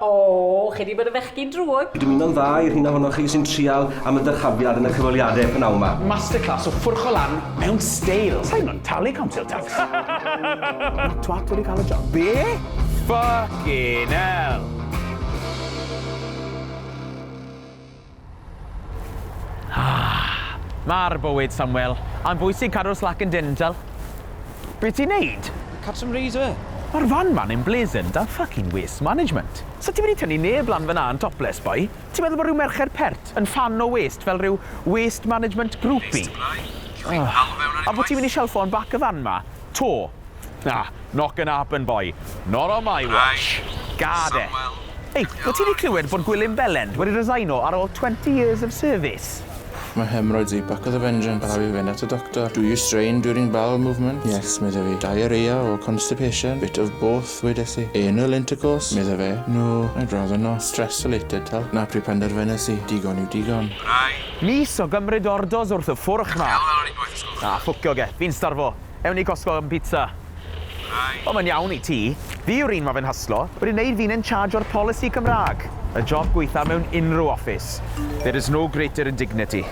O, chi 'di bod yn fechgyn drwg! Dwi'n mynd o'n dda i'r rheina ohonoch chi sy'n trial am y dyrchafiad yn y cyfweliadau p'nawn 'ma. Masterclass o ffwrcho lan mewn steil! Sa i mo'n talu council tax! Ma' twat wedi cael y job. Be? Ffycin 'ell! Ma'r bywyd, Samwel. Mae'n bwysig cadw'r slac yn dental. Be' ti'n neud? Catch some rays yfe? Ma'r fan ma'n emblazoned â fucking waste management. Sa ti wedi tynnu neb lan fan'na yn topless, boi? Ti'n meddwl bod rhyw merched pert yn ffan o waste fel rhyw waste management groupie? Ffycin hell, Samwel. Wnai neud gwaith. A bo' ti'n mynd i shelffo yn bac y fan 'ma? 'To? Ah, not gonna happen boi. Not on my watch. Gad e. Ei, wyt ti wedi clywed bod Gwilym Bellend wedi resigno ar ôl 20 years of service? Mae hemorrhoids fi, back of the vengeance, a rhaid fi fynd at y doctor. Do you strain during bowel movements? Yes, medda fi. Diarrhoea or constipation? Bit of both, wedes i. Anal intercourse? Medda fe. No, I'd rather not. Stress related, tal. Na pryd penderfynes i, digon yw digon. Mis o gymryd orders wrth y ffwrch 'ma. Ah, ffwcio ge, fi'n starfo. Ewn i Costco am pizza. Right. O mae'n iawn i ti. Fi yw'r un ma fe'n hyslo. Wedi neud fi'n in charge o'r polisi Cymraeg. Y job gwaetha mewn unrhyw office. There is no greater indignity.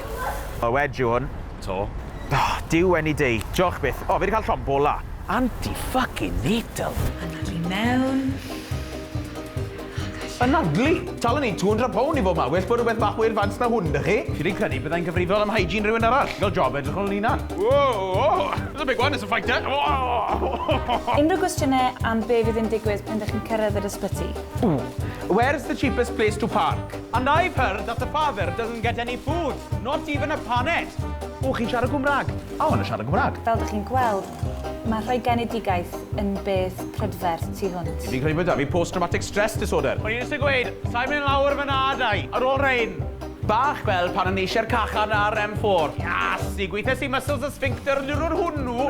O wedge yw hwn. To. O, Duw any day. Joch byth. O, fi 'di cael llond bola. Anti fucking natal. Anadlu mewn. Anadlu! Tal yn neud two hundred pound i bob man, well bod rhywbeth bach mwy advanced na hwn 'da chi. Fi 'di credu byddai'n gyfrifol am hygiene rhywun arall, fel job edrych ar ol 'yn hunan. Whoa! There's a big one, it's a fighter! Whoa! Unrhyw gwestiynau am be fydd yn digwydd pan dych chi'n cyrraedd yr ysbyty? Ooh! Where's the cheapest place to park? And I've heard that the father doesn't get any food, not even a paned! Ooh, chi'n siarad Gwmrag? I wanna siarad Gwmrag! Fel dych chi'n gweld, Mae rhoi genedigaeth yn beth prydferth tu hwnt. Fi'n credu bod 'da fi post traumatic stress disorder. O'n i jyst yn gweud, sai'n mynd lawr fy nadau ar ôl rhein! Bach fel pan o'n i eisiau'r cachan ar em ffôr. Iasi, gweithiais i muscles y sphincter y diwrnod hwnnw!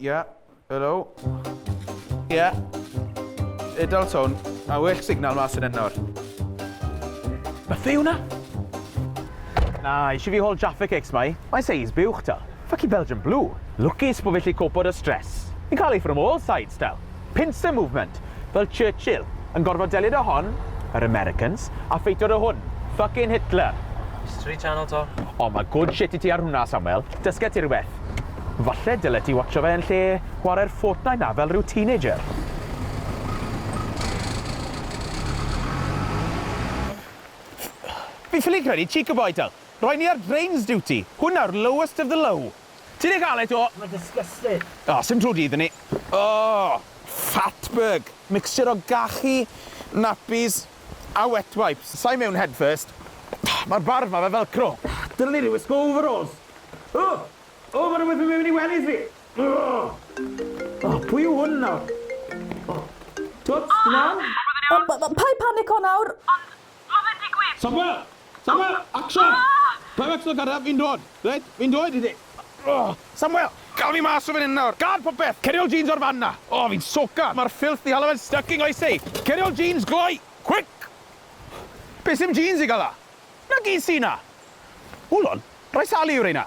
Ia, helo. Ia. Edal tôn. Mae well signal mas yn enor. Mae fe hwnna? Na, eisiau fi hol Jaffa Cakes mai. Mae seis buwch ta. Fucking Belgian Blue. Lwcus bod fi lli copo dy stress. Fi'n cael ei from all sides, Del. Pincer movement, fel Churchill, yn gorfod delio da hon, yr Americans, a ffeito da hwn, fuckin Hitler. History channel to. O ma good shit i ti ar hwnna Samuel, dysge ti rywbeth. Falle dyle ti watsho fe yn lle chware'r Fortnite na fel rhyw teenager. Fi ffili credu Cheeker Boy Del! Roi ni ar Drains Duty! Hwn nawr lowest of the low! Ti di cael e to? Mae disgusting. O, sim trw dydd inni. O! Fatberg! Mixture o gachu, nappies a wet wipes. Sa i mewn head first. Mae'r barf ma fel velcro. Dylen i 'di wisgo overalls. O! O, mae rhywbeth yn mynd mewn i wellies fi! O! O, pwy yw hwn nawr? O! Twt, ti'n iawn? O, paid panico nawr. Ond, Mae fe'n digwydd! Samuel! Samuel! Action! Paid methu dod garref, fi'n dod! Reit, fi'n dod i ti! Samuel! Gawn ni mas o fan hyn nawr! Gad popeth! Ceri ol jeans o'r fan 'na! O, fi'n soaked! Mae'r filth 'di hala fe'n styc i nghoesau! Ceri ol jeans, gloi! Quick! Be' sy'm jeans i gael 'na? 'Na gi sy 'na! Hold on, rhai sali yw rheina!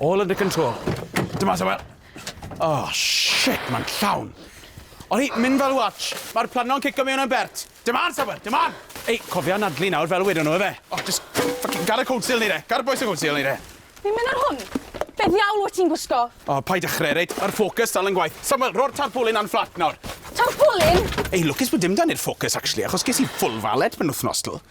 All under control. Dyma Samuel. Oh, shit, mae'n llawn. O'n i, mynd fel watch. Mae'r planno'n cico mewn yn bert. Dyma Samuel, dyma! Ei, cofio anadlu nawr fel wedon nhw, efe. Oh, just fucking gar y cold seal ni re. Gar y boes y cold seal ni re. Fi'n mynd ar hwn. Be ddiawl wyt ti'n gwisgo? Oh, paid dechrau, reit? Mae'r ffocws dal yn gwaith. Samuel, ro'r tarpulin a'n fflat nawr. Tarpulin? Ei, lwcus bod dim dan i'r ffocws, actually, achos ges i full valet pen wythnos, dwl.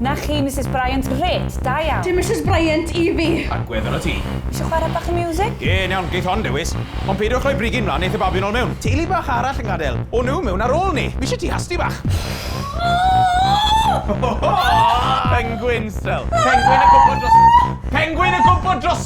Na chi Misus Bryant? Grêt! Da iawn! Dim Misus Bryant i fi! Agwedd arnot ti. Isio chwarae bach o miwsig? Ie, yn iawn, geith hon ddewis. Ond peidiwch rhoi brigyn mlan, neith y babi nol mewn. Teulu bach arall yn gadel. O nhw mewn ar ôl ni! Mishe ti hasti bach? Pengwins! Pengwin yn gwmpo dros- Pengwin yn gwmpo dros-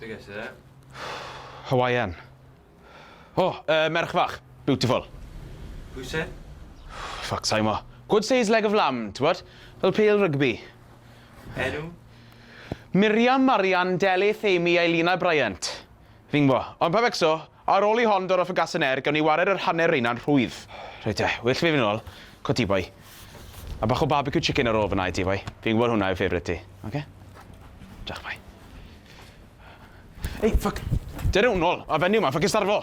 Be ges ti dde? Hawaiian. O, oh, uh, merch fach. Beautiful. Pwy se? Fuck, sa'i mo. Good size leg of lamb, ti'n bod? Fel pêl rygbi. Enw? Miriam, Marian, Delyth, Amy, Eileen a Bryant. Fi'n bo. Ond pa becso, Ar ôl i hon dorro fy gasyn er, gawn ni wared yr hanner reina'n rhwydd. Reit de, well fi fynd nôl. Co ti boi. A bach o barbecue chicken ar ôl fynna i ti boi. Fi'n gwybod hwnna yw favourite ti. Oce? Diolch boi. Ei, ffyc! Dere hwn nôl, mae fenyw yma, ffycin starfo!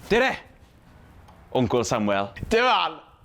Dere! Wncwl Samuel. Dim on!